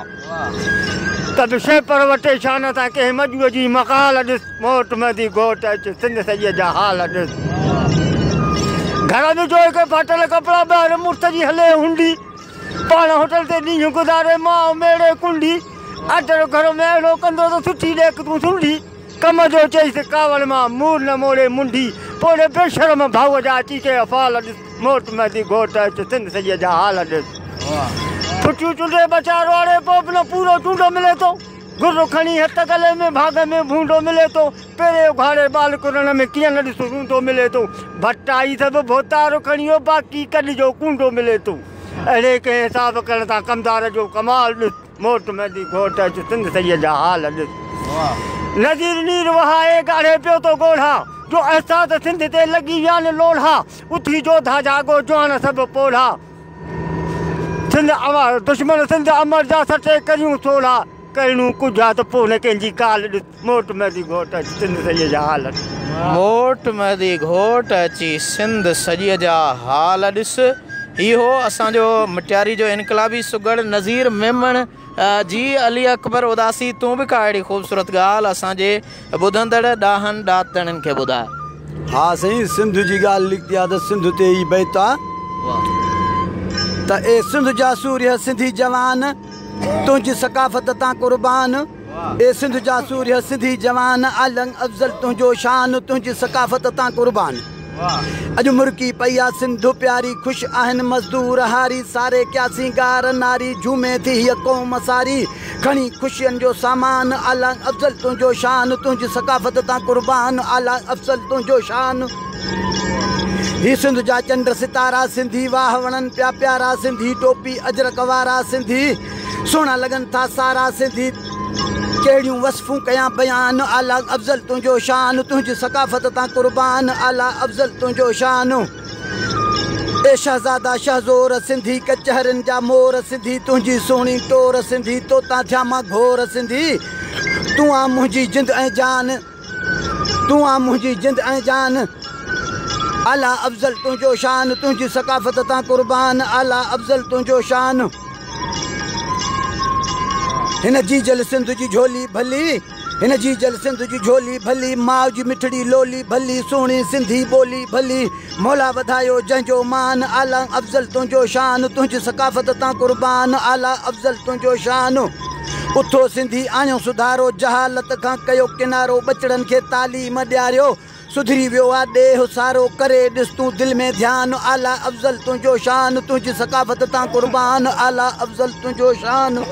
B: ته به شيء پر وٽي شان سان ڪنهن مڄوء جي مقال ڏس موٽ مهدي گهوٽ اچ سنڌ سيد جا حال ڏس گهر ۾ جوئي کي ڦاٽل ڪپڙا ٻاهر مڙس جي هلي هنڊي پاڻ هوٽل تي ڏينهن گذاري ماء ميڙي ڪنڊي آٽرو گهرو ۾ اهڙو ڪندو ته سٺي ڏيک تون سنڊي ڪم جو چئيس ڪاوڙ مان مور نه موڙي منڊي پوڙهي بي شرم ڀاء جا اچي ڪي افعال ڏس موٽ مهدي گهوٽ اچ سنڌ سڄي جا حال ڏس پٺيون چنڊي ٻچا روئاڙي پوء به نه پورو چونڊو ملي ٿو گهر کڻي هت گلي ۾ ڀاڳ ۾ ڀونڊو ملي ٿو. پري اگهاڙي ٻال ڪرڻ ۾ ڪيئن نه ڏس روندو ملي ٿو. ڀٽائي سڀ ڀوتار کڻيو باقي ڪڏ جو ڪونڊو ملي ٿو. اهڙي ڪنهن حساب ڪرڻ سان ڪمدار جو ڪمال ڏس. موٽ مهدي گهوٽ اچ سنڌ سيد جا حال ڏس. نظير نير وهائي ڳاڙهي پيو ٿو ڳوڙها. جو احساس سنڌ تي لڳي ويان لوڙها. اٿي جوڌا جاڳو جوان سڀ پوڙها. سنڌ امر، دشمن سنڌ امر جا سٽي ڪريون سوڙها، ڪهڙون ڪجها ته پوء نه ڪنهن جي ڪال ڏس، موٽ مهدي گهوٽ اچي سنڌ سڄي جا حال ڏس. موٽ
A: مهدي گهوٽ اچي سنڌ سڄي جا حال ڏس، هي هو اسان جو مٽياري جو انقلابي سگهڙ نظير ميمڻ. جي علي اڪبر اداسي تون به ڪا اهڙي خوبصورت ڳالهه اسان جي ٻڌندڙ ڏاهن ڏاتڻين کي ٻڌاء. ها سائين سنڌ
C: جي ڳالهه نڪتي آ ته سنڌ تي هي بيت آ ته اي سنڌ جا سورهيه سنڌي جوان تنهنجي ثقافت تان قربان اي سنڌ جا سورهيه سنڌي جوان عالم افضل تنهنجو شان تنهنجي ثقافت تان قربان. اڄ مرڪي پئي آ سنڌ پياري، خوش آهن مزدور هاري، ساري ڪيا سينگار ناري، جهومي ٿي هيء قوم ساري، کڻي خوشين جو سامان، اعليٰ افضل تنهنجو شان، تنهنجي ثقافت تان قربان، اعليٰ افضل تنهنجو شان. هي سنڌ جا چنڊ ستارا، سنڌي واهه وڻن پيا پيارا، سنڌي ٽوپي اجرڪ وارا، سنڌي. سهڻا لڳن ٿا سارا سنڌي ڪهڙيون وصفون ڪيان بيان اعليٰ افضل تنهنجو شان تنهنجي ثقافت تان قربان اعليٰ افضل تنهنجو شان اي شهزادا شهه زور سنڌي ڪچهرين جا مور سنڌي تنهنجي سهڻي ٽور سنڌي توتان ٿيان مان گهور سنڌي تون آن منهنجي جند ۽ جان. تون آن منهنجي جند ۽ جان اعليٰ افضل تنهنجو شان تنهنجي ثقافت تان قربان اعليٰ افضل تنهنجو شان هن جي جل سنڌ جي جهولي ڀلي هن جي جل سنڌ جي جهولي ڀلي ماء جي مٺڙي لولي ڀلي سهڻي سنڌي ٻولي ڀلي مولا وڌايو جنهن جو مان اعليٰ افضل تنهنجو شان تنهنجي ثقافت تان قربان اعليٰ افضل تنهنجو شان اٿو سنڌي آڻيو سڌارو، جهالت کان ڪيو ڪنارو، ٻچڙن کي تعليم ڏياريو، سڌري ويو آ ڏيهه سارو، ڪري ڏس تون دل ۾ ڌيان، اعليٰ افضل تنهنجو شان، تنهنجي ثقافت تان قربان، اعليٰ افضل تنهنجو شان.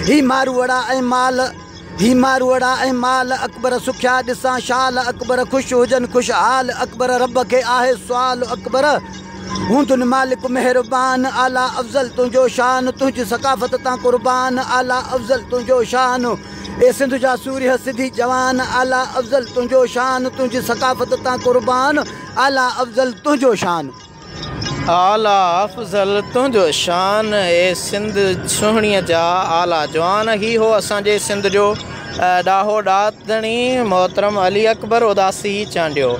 C: هي ماروئڙا ۽ مال، هي ماروئڙا ۽ مال، اڪبر سکيا ڏسان شال، اڪبر خوش هجن خوشحال، اڪبر رب کي آهي سوال، اڪبر. هوندن مالڪ مهربان، اعليٰ افضل تنهنجو شان، تنهنجي ثقافت تان قربان، اعليٰ افضل تنهنجو شان، اي سنڌ جا سورهيه سڌي جوان، اعليٰ افضل تنهنجو شان، تنهنجي ثقافت تان قربان، اعليٰ افضل تنهنجو شان.
A: اعليٰ افضل تنهنجو شان، اي سنڌ سهڻيء جا اعليٰ جوان، هي هو اسان جي سنڌ جو. ڏاهو ڏات ڌڻي محترم علي اڪبر اداسي چانڊيو.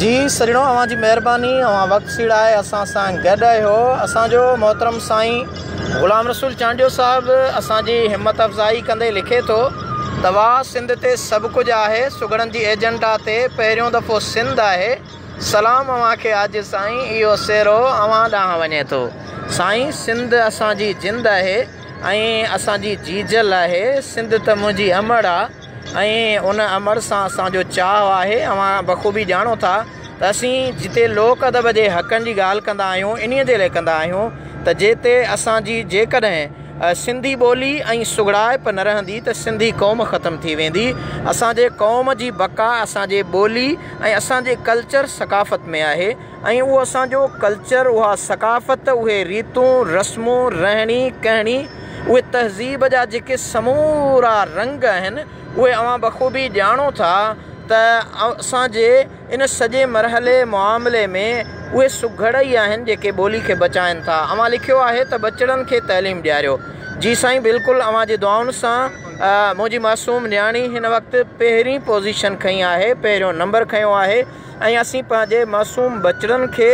A: جي سڄڻو اوهان جي مهرباني اوهان وقت سيڙائي اسان سان گڏ اهيو اسان جو محترم سائين غلام رسول چانڊيو صاحب اسان جي همت افزائي ڪندي لکي ٿو. توهان سنڌ تي سڀ ڪجهه آهي سگهڙن جي ايجنڊا تي پهريون دفعو سنڌ آهي سلام اوهان کي عاجز سائين اهو سيرو اوهان ڏانهن وڃي ٿو سائين سنڌ اسان جي جند آهي ۽ اسان جي جيجل آهي سنڌ ته منهنجي امڙ آ ۽ ان امڙ سان اسان جو چاهه آهي اوهان بخوبي ڄاڻو ٿا ته اسين جتي لوڪ ادب جي حقن جي ڳالهه ڪندا آهيون انهي جي لاء ڪندا آهيون ته جي تي اسان جي جيڪڏهن سنڌي ٻولي ۽ سگهڙائپ نه رهندي ته سنڌي قوم ختم ٿي ويندي، اسان جي قوم جي بقا اسان جي ٻولي ۽ اسان جي ڪلچر ثقافت ۾ آهي ۽ اهو اسان جو ڪلچر اها ثقافت اهي ريتون رسمون رهڻي ڪهڻي اهي تهذيب جا جيڪي سمورا رنگ اهن اهي اوهان بخوبي ڄاڻو ٿا ته اسان جي ان سڄي مرحلي، معاملي، ۾ اهي سگهڙ ئي آهن جيڪي ٻولي کي بچائن ٿا. اوهان لکيو آهي ته ٻچڙن کي تعليم ڏياريو. جي سائين بلڪل اوهان جي دعائن سان. منهنجي معصوم نياڻي هن وقت پهرين پوزيشن کنئي آهي، پهريون نمبر کنيو آهي ۽ اسين پنهنجي معصوم ٻچڙن کي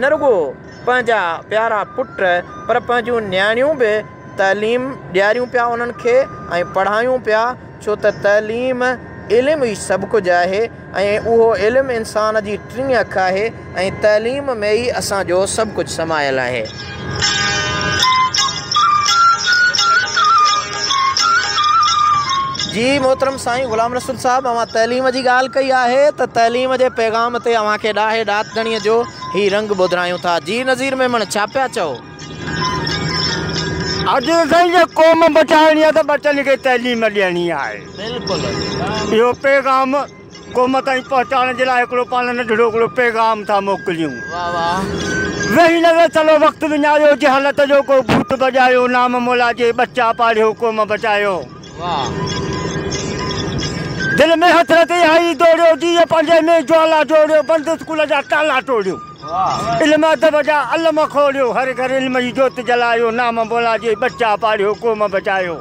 A: نه رڳو پنهنجا پيارا پٽ پر پنهنجون نياڻيون به تعليم ڏياريون پيا انهن کي ۽ پڙهايون پيا. ڇو ته تعليم، علم، ئي سڀ ڪجهه آهي ۽ اهو علم انسان جي ٽين اک آهي ۽ تعليم ۾ ئي اسان جو سڀ ڪجهه سمايل آهي. جي محترم سائين غلام رسول صاحب اوهان تعليم جي ڳالهه ڪئي آهي ته تعليم جي پيغام تي اوهان کي ڏاهي ڏاتڻي جو هي رنگ ٻڌرايون ٿا جي نظير ميمڻ ڇا پيا چئو.
B: اڄ سائين جي قوم بچائڻي آ ته ٻچن کي تعليم ڏيڻي آهي بلڪل
A: اهو پيغام
B: قوم تائين پهچائڻ جي لاء هڪڙو پاڻ ننڍڙو هڪڙو پيغام ٿا موڪليون واه
A: واه ويهي نه
B: ويهي چلو وقت وڃايو جهالت جو ڪو ڀوت بڄايو نام مولا جي ٻچا پاڙهيو قوم بچايو
A: واه
B: دل ۾ حسرت اهائي ڊوڙيو جيء پنهنجي ۾ جوالا جوڙيو بند اسڪول جا تالا ٽوڙيو. علم ادب جا علم کوليو. هر گهر علم جي جوت جلايو. نام مولا جي ٻچا پاڙهيو قوم بچايو.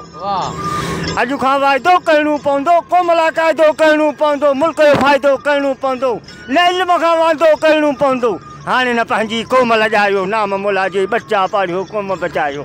B: اڄ کان واعدو ڪرڻو پوندو. قوم لاء قاعدو ڪرڻو پوندو. ملڪ جو فائدو ڪرڻو پوندو. نه علم کان واندو ڪرڻو پوندو. هاڻي نه پنهنجي قوم لڄايو. نام مولا جي ٻچا پاڙهيو قوم بچايو.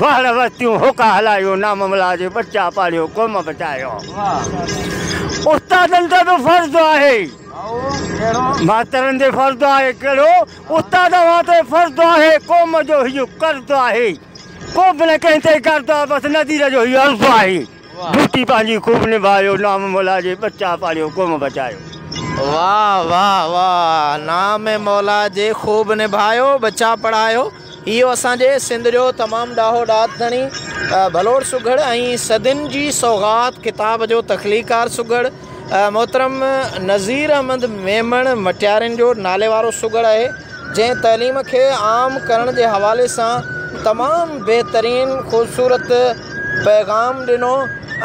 B: وهڙ ورتيون هوڪا هلايو نام ملا جي ٻچا پاڙهيو قوم بچايو استادن تي به فرض آهي ماسترن تي فرض آهي ڪهڙو استاد اوهان تي فرض آهي قوم جو هيو قرض آهي ڪو به نه ڪنهن تي قرض آهي بس نذير جو هيو عرض آهي ڊيوٽي پنهنجي خوب نڀايو نام مولا جي ٻچا پاڙهيو قوم بچايو واهه
A: واهه واهه نام مولا جي خوب نڀايو ٻچا پڙهايو. اهو اسان جي سنڌ جو تمام ڏاهو ڏات ڌڻي ڀلوڙ سگهڙ ۽ صدين جي سوغات ڪتاب جو تخليقڪار سگهڙ محترم نظير احمد ميمڻ مٽيارين جو ناليوارو سگهڙ آهي جنهن تعليم کي عام ڪرڻ جي حوالي سان تمام بهترين خوبصورت پيغام ڏنو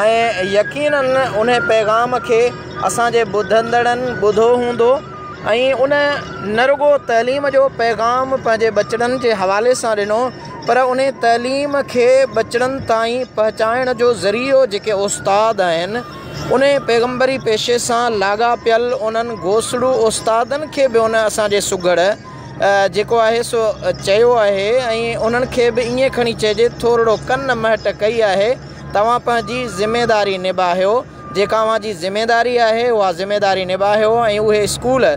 A: ۽ يقينن انهي پيغام کي اسان جي ٻڌندڙن ٻڌو هوندو ۽ ان نه رڳو تعليم جو پيغام پنهنجي ٻچڙن جي حوالي سان ڏنو پر ان تعليم کي ٻچڙن تائين پهچائڻ جو ذريعو جيڪي استاد آهن ان پيغمبري پيشي سان لاڳاپيل انهن گوسڙو استادن کي به ان اسان جي سگهڙ جيڪو آهي سو چيو آهي ۽ انهن کي به ائين کڻي چئجي ٿورڙو ڪن مهٽ ڪئي آهي توهان پنهنجي ذميداري نباهيو جيڪا اوهان جي ذميداري آهي اها ذميداري نباهيو ۽ اهي اسڪول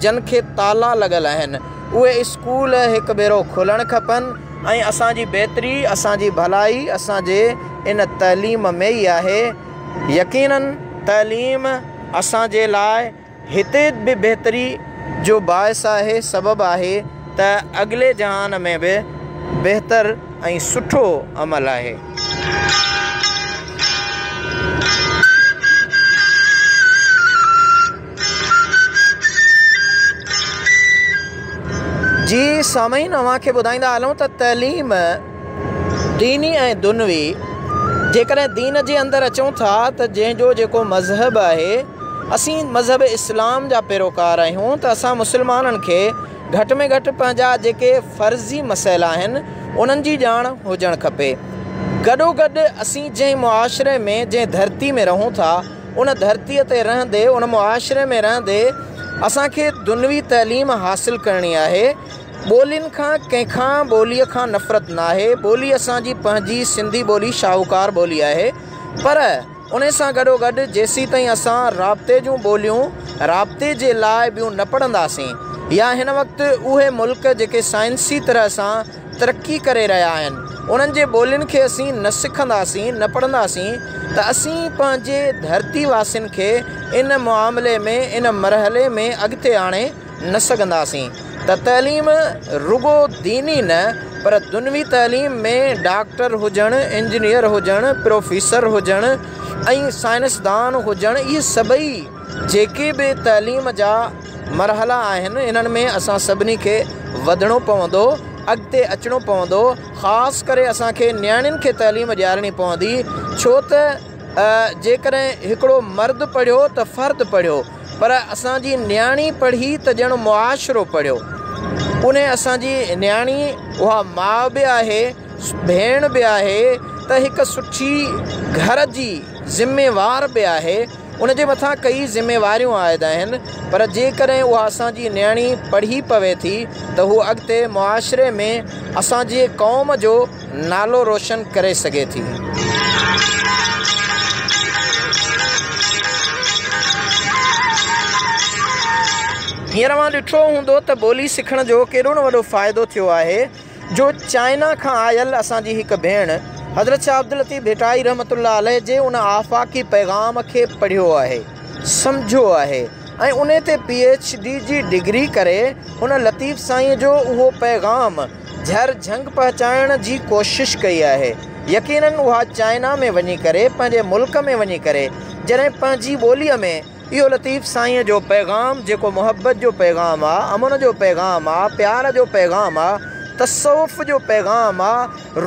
A: جن کي تالا لڳل آهن اهي اسڪول هڪ ڀيرو کلڻ کپن ۽ اسان جي بهتري اسان جي ڀلائي اسان جي ان تعليم ۾ ئي آهي يقينن تعليم اسان جي لاء هتي به بهتري جو باعث آهي، سبب آهي ته اڳلي جهان ۾ به بهتر ۽ سٺو عمل آهي. جي سامعين اوهان کي ٻڌائيندا هلون ته تعليم ديني ۽ دنوي جيڪڏهن دين جي اندر اچون ٿا ته جنهن جو جيڪو مذهب آهي اسين مذهب اسلام جا پيروڪار آهيون ته اسان مسلمانن کي گهٽ ۾ گهٽ پنهنجا جيڪي فرضي مسئلا آهن انهن جي ڄاڻ هجڻ کپي. گڏوگڏ اسين جنهن معاشري ۾ جنهن ڌرتي ۾ رهون ٿا ان ڌرتي تي رهندي ان معاشري ۾ رهندي اسان کي دنوي تعليم حاصل ڪرڻي آهي ٻولين کان ڪنهن کان ٻولي کان نفرت ناهي ٻولي اسان جي پنهنجي سنڌي ٻولي شاهوڪار ٻولي آهي پر ان سان گڏوگڏ جيسيتائين اسان رابطي جون ٻوليون رابطي جي لاء ٻيون نه پڙهنداسين يا هن وقت اهي ملڪ جيڪي سائنسي طرح سان ترقي ڪري رهيا آهن انهن جي ٻولين کي اسين نه سکنداسين نه پڙهنداسين ته اسين پنهنجي ڌرتي واسين کي ان معاملي ۾ ان مرحلي ۾ اڳتي آڻي نه سگهنداسين ته تعليم رڳو ديني نه پر دنوي تعليم ۾ ڊاڪٽر هجڻ، انجنيئر هجڻ، پروفيسر هجڻ ۽ سائنسدان هجڻ اهي سڀئي جيڪي به تعليم جا مرحلا آهن انهن ۾ اسان سڀني کي وڌڻو پوندو اڳتي اچڻو پوندو خاص ڪري اسان کي نياڻين کي تعليم ڏيارڻي پوندي ڇو ته جيڪڏهن هڪڙو مرد پڙهيو ته فرد پڙهيو پر اسان جي نياڻي پڙهي ته ڄڻ معاشرو پڙهيو. پنهي اسان جي نياڻي اها ماء به آهي، ڀيڻ به آهي ته هڪ سٺي گهر جي ذميوار به آهي، ان جي مٿان ڪيئي ذميواريون عائد آهن پر جيڪڏهن اها اسان جي نياڻي پڙهي پوي ٿي ته هوء اڳتي معاشري ۾ اسان جي قوم جو نالو روشن ڪري سگهي ٿي. هينئر اوهان ڏٺو هوندو ته ٻولي سکڻ جو ڪيڏو نه وڏو فائدو ٿيو آهي جو چائنا کان آيل اسان جي هڪ ڀيڻ حضرت شاهه عبداللطيف ڀٽائي رحمة الله عليه جي ان آفاقي پيغام کي پڙهيو آهي سمجهيو آهي ۽ انهي تي پي ايڇ ڊي جي ڊگري ڪري هن لطيف سائينء جو اهو پيغام جهر جهنگ پهچائڻ جي ڪوشش ڪئي آهي يقينن اها چائنا ۾ وڃي ڪري پنهنجي ملڪ ۾ وڃي ڪري جڏهن پنهنجي ٻولي ۾ اهو لطيف سائين جو پيغام جيڪو محبت جو پيغام آ امن جو پيغام آ پيار جو پيغام آ تصوف جو پيغام آ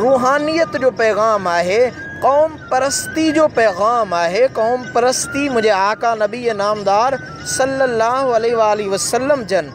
A: روحانيت جو پيغام آهي قوم پرستي جو پيغام آهي قوم پرستي منهنجي آقا نبي نامدار صلي الله عليه واٰله وسلم جن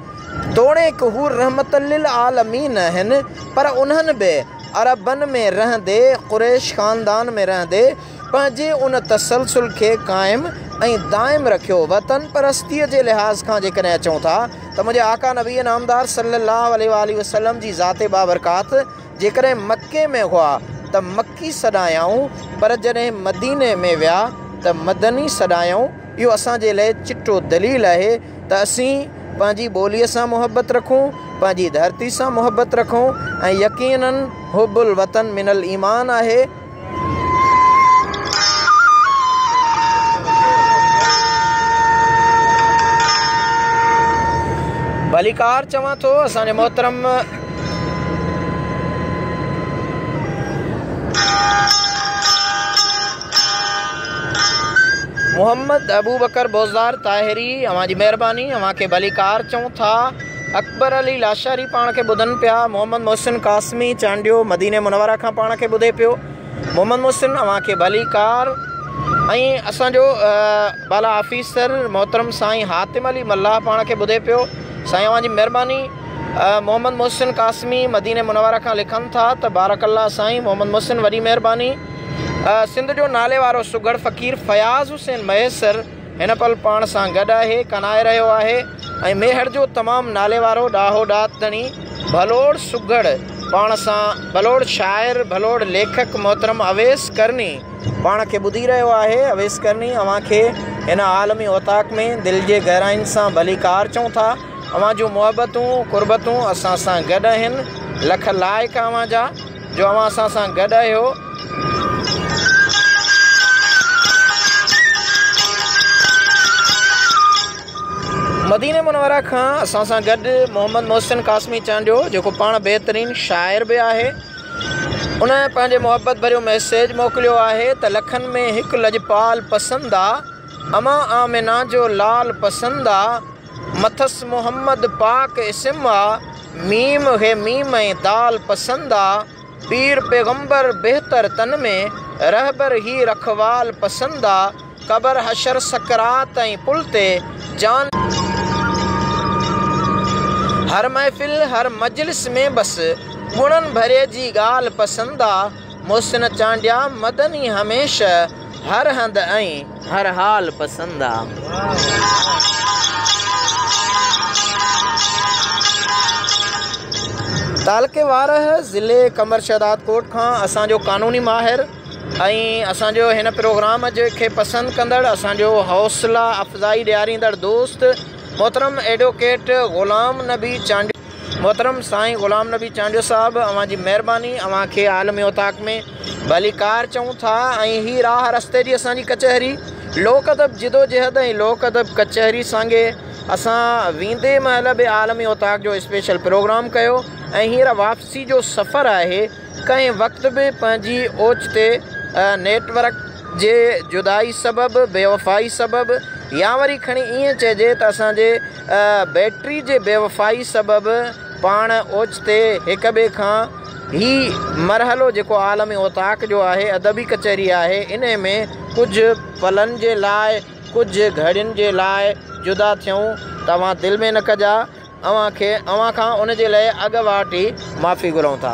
A: توڻيڪ هو رحمة للعالمين آهن، پر انهن به عربن ۾ رهندي، قريش خاندان ۾ رهندي، پنهنجي ان تسلسل کي قائم ۽ دائم رکيو. وطن پرستيء جي لحاظ کان جيڪڏهن اچون ٿا ته منهنجي آقا نبي نامدار صلّي اللّٰه عليه واٰله وسلّم جي ذات بابرڪات جيڪڏهن مڪي ۾ هئا ته مڪي سڏايائون، پر جڏهن مديني ۾ ويا ته مدني سڏايائون، اهو اسان جي لاء چٽو دليل آهي. ته اسين پنهنجي ٻوليء سان محبت رکون، پنهنجي ڌرتي سان محبت رکون ۽ يقيناً حب الوطن من الايمان آهي. ڀليڪار چوان ٿو اسان جي محترم محمد ابوبڪر بوزدار طاهري، اوهان جي مهرباني، اوهان کي ڀليڪار چئون ٿا. اڪبر علي لاشاري پاڻ کي ٻڌن پيا. محمد محسن قاسمي چانڊيو مديني منوره کان پاڻ کي ٻڌي پيو. محمد محسن اوهان کي ڀليڪار ۽ اسان جو بالا آفيسر محترم سائين حاتم علي ملاح پاڻ کي ٻڌي پيو. سائين اوهان جي مهرباني. محمد محسن قاسمي مديني منوره کان لکن ٿا ته بارڪ الله سائين محمد محسن وڏي مهرباني. سنڌ جو ناليوارو سگهڙ فقير فياض حسين مهيسر هن پل پاڻ سان گڏ آهي، ڪنائي رهيو آهي ۽ ميهڙ جو تمام ناليوارو ڏاهو ڏات ڌڻي ڀلوڙ سگهڙ پاڻ سان ڀلوڙ شاعر ڀلوڙ ليکڪ محترم اويس ڪرني پاڻ کي ٻڌي رهيو آهي اويس ڪرني اوهان کي هن عالمي اوطاق ۾ دل جي گهراين سان ڀليڪار چئون ٿا اوهان جون محبتون قربتون اسان سان گڏ آهن لک لائق اوهان جا. جو اوهان اسان سان گڏ آهيو. مديني منوره کان اسان سان گڏ محمد محسن قاسمي چانڊيو جيڪو پاڻ بهترين شاعر به آهي ان پنهنجي محبت ڀريو ميسيج موڪليو آهي ته لکن ۾ هڪ لڄپال پسند آ امان آمنه جو لال پسند آ. مٿس محمد پاڪ اسم آ، ميم ه ميم ۽ دال پسند آ، پير پيغمبر بهتر تن ۾، رهبر هي رکوال پسند آ، قبر حشر سڪرات ۽ پل تي، جان. هر محفل هر مجلس ۾ بس، گڻن ڀري جي ڳالهه پسند آ. محسن چانڊيا مدني هميشه هر هنڌ ۽ هر حال پسند آ. تعلقي وارهه ضلعي قمبر شهداد ڪوٽ کان اسان جو قانوني ماهر ۽ اسان جو هن پروگرام جي کي پسند ڪندڙ اسان جو حوصلا افزائي ڏياريندڙ دوست محترم ايڊوڪيٽ غلام نبي چانڊيو محترم سائين غلام نبي چانڊيو صاحب اوهان جي مهرباني اوهان کي عالمي اوطاق ۾ ڀليڪار چئون ٿا ۽ هي راهه رستي جي اسان جي ڪچهري لوڪ ادب جدوجهد ۽ لوڪ ادب ڪچهري سانگي اسان ويندي مهل به عالمي اوطاق جو اسپيشل پروگرام ڪيو ۽ هينئر واپسي جو سفر آهي ڪنهن وقت به پنهنجي اوچتي نيٽ ورڪ جي جدائي سبب بيوفائي سبب يا وري کڻي ائين چئجي ته اسان جي بيٽري جي بيوفائي سبب پاڻ اوچتي هڪ ٻئي کان هي مرحلو جيڪو عالم اوطاق جو آهي ادبي ڪچهري آهي انهي ۾ ڪجهه پلن جي لاء ڪجهه گهڙين جي لاء جدا ٿيون توهان دل ۾ نه ڪجا اوهان کي اوهان کان ان جي لئي اڳ واٽ ئي معافي گهرون ٿا.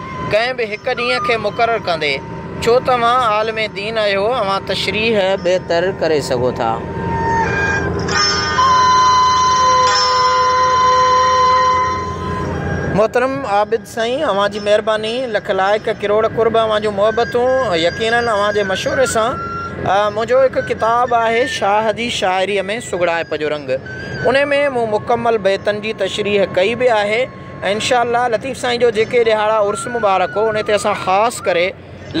A: ڪنهن به هڪ ڏينهن کي مقرر ڪندي ڇو ته اوهان عالم دين آهيو اوهان تشريح بهتر ڪري سگهو ٿا. محترم عابد سائين اوهان جي مهرباني لک لائق ڪروڙ قرب اوهان جون محبتون يقيناً اوهان جي مشوري سان منهنجو هڪ ڪتاب آهي شاهه جي شاعري ۾ سگهڙائپ جو رنگ انهي ۾ مون مڪمل بيتن جي تشريح ڪئي به آهي ۽ انشاء الله لطيف سائين جو جيڪي ڏهاڙا عرس مبارڪ هو ان تي اسان خاص ڪري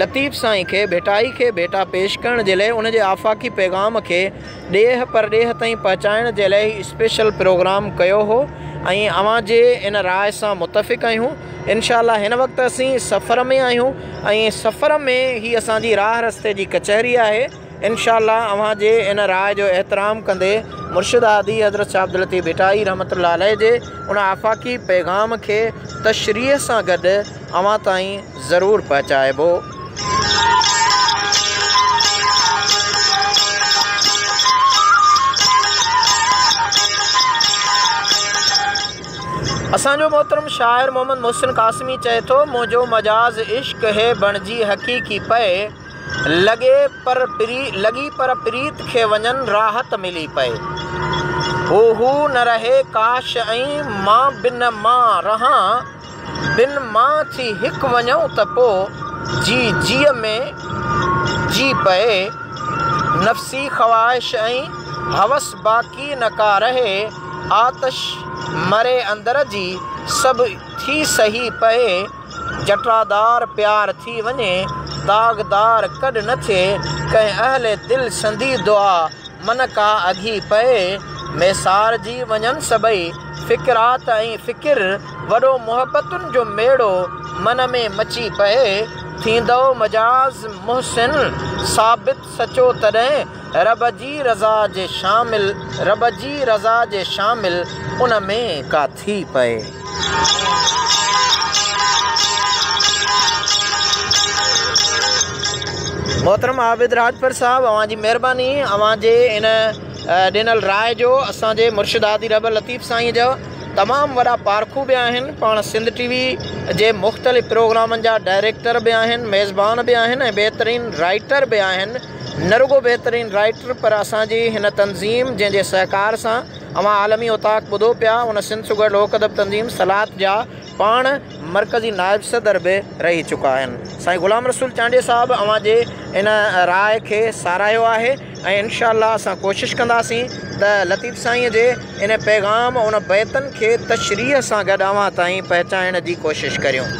A: لطيف سائين کي ڀيٽائي کي ڀيٽا پيش ڪرڻ جي لئه ان جي آفاقي پيغام کي ڏيهه پرڏيهه تائين پهچائڻ جي لئه هي اسپيشل پروگرام ڪيو هو ۽ اوهان جي ان راء سان متفق آهيون انشاء الله هن وقت اسين سفر ۾ آهيون ۽ سفر ۾ هي اسان جي راهه رستي جي ڪچهري آهي. انشاء الله اوهان جي ان راء جو احترام ڪندي مرشد هادي حضرت شاھ عبداللطيف ڀٽائي رحمة الله عليه جي ان آفاقي پيغام کي تشريح سان گڏ اوهان تائين ضرور پهچائبو. اسان جو محترم شاعر محمد محسن قاسمي چئي ٿو منهنجو مجاز عشق هي بڻجي حقيقي پئي. لڳي پر لڳي پر پريت کي وڃن راحت ملي پئي. هو هو نه رهي ڪاش ائين مان به نه مان رهان بن مان ٿي هڪ وڃئون ته پو جي جيء ۾ جي پئي. نفسي خواهش ۽ هوس باقي نه ڪا رهي آتش مري اندر جي سڀ ٿي سهي پئي. جٽادار پيار ٿي وڃي، داغدار ڪڏ نه ٿئي، ڪنهن اهل دل سندي دعا، من ڪا اگهي پئي، ميسارجي وڃن سڀئي، فڪرات ۽ فڪر، وڏو محبتن جو ميڙو، من ۾ مچي پئي، ٿيندؤ مجاز محسن، ثابت سچو تڏهن، رب جي رضا جي شامل، رب جي رضا جي شامل، ان ۾ ڪا. ٿي پئي. محترم عابد راڄپر صاحب اوهان جي مهرباني اوهان جي ان ڏنل راء جو اسان جي مرشد هادي رحبر لطيف سائين جا تمام وڏا پارکو به آهن پاڻ سنڌ ٽي وي جي مختلف پروگرامن جا ڊائريڪٽر به آهن ميزبان به آهن ۽ بهترين رائيٽر به آهن نه رڳو بهترين رائيٽر پر اسان جي هن تنظيم جنهن جي سهڪار سان اوهان عالمي اوطاق ٻڌو پيا، ان سنڌ شگر لوڪ ادب تنظيم سلات جا پاڻ مرڪزي نائب صدر به رهي چڪا آهن. سائين غلام رسول چانڊيي صاحب اوهان جي ان راء کي ساراهيو آهي ۽ انشاء الله اسان ڪوشش ڪنداسين ته لطيف سائينء جي ان پيغام ان بيتن کي تشريح سان گڏ اوهان تائين پهچائڻ جي ڪوشش ڪريون.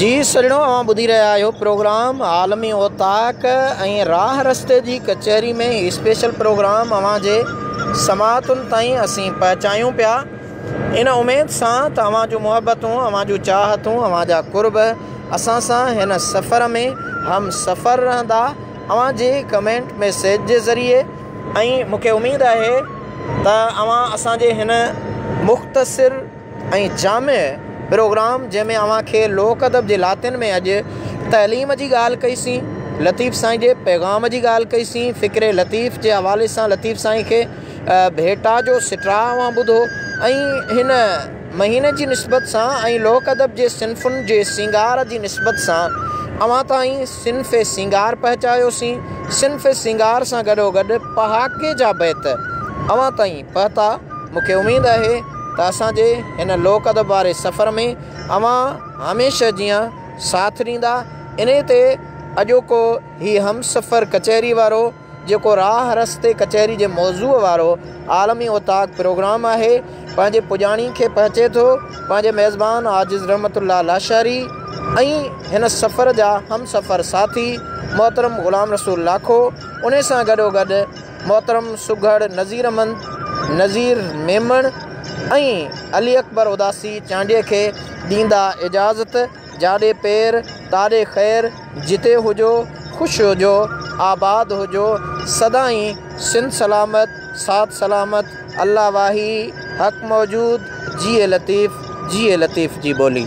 A: جي سھڻو اوھان ٻڌي رھيا آھيو پروگرام عالمي اوطاق ۽ راھ رستي جي ڪچهري ۾ ھي اسپيشل پروگرام اوھان جي سماعتن تائين اسين پهچايون پيا ان اميد سان ته اوھان جون محبتون اوھان جون چاھتون اوھان جا قرب اسان سان ھن سفر ۾ ھم سفر رھندا اوھان جي ڪمينٽ ميسيج جي ذريعي ۽ مونکي اميد آھي ته اوھان اسان جي ھن مختصر ۽ جامع پروگرام جنهن ۾ اوهان کي لوڪ ادب جي لاتين ۾ اڄ تعليم جي ڳالهه ڪئي سين لطيف سائين جي پيغام جي ڳالهه ڪئي سين فڪري لطيف جي حوالي سان لطيف سائين کي ڀيٽا جو سٽراء اوهان ٻڌو ۽ هن مهيني جي نسبت سان ۽ لوڪ ادب جي صنفن جي سينگار جي نسبت سان اوهان تائين صنف سينگار پهچايوسين. صنف سينگار سان گڏوگڏ پهاڪي جا بيت اوهان تائين پهتا. مون کي اميد آهي ته اسان جي هن لوڪ ادب واري سفر ۾ اوهان هميشه جيان ساٿ ڏيندا. انهي تي اڄوڪو هي همسفر ڪچهري وارو. جيڪو راهه رستي ڪچهري جي موضوع وارو عالمي اوطاق پروگرام آهي، پنهنجي پڄاڻي کي پهچي ٿو. پنهنجي ميزبان عاجز رحمت الله لاشاري ۽ هن سفر جا همسفر ساٿي محترم غلام رسول لاکو، انهي سان گڏوگڏ محترم سگهڙ نذير احمد، نذير ميمڻ ۽ علي اڪبر اداسي چانڊيي کي ڏيندا اجازت. جاڏي پير تاڏي خير جتي هجو خوش هجو آباد هجو سدائين سنڌ سلامت ساٿ سلامت الله واهي حق موجود جيئي لطيف جيئي لطيف جي ٻولي.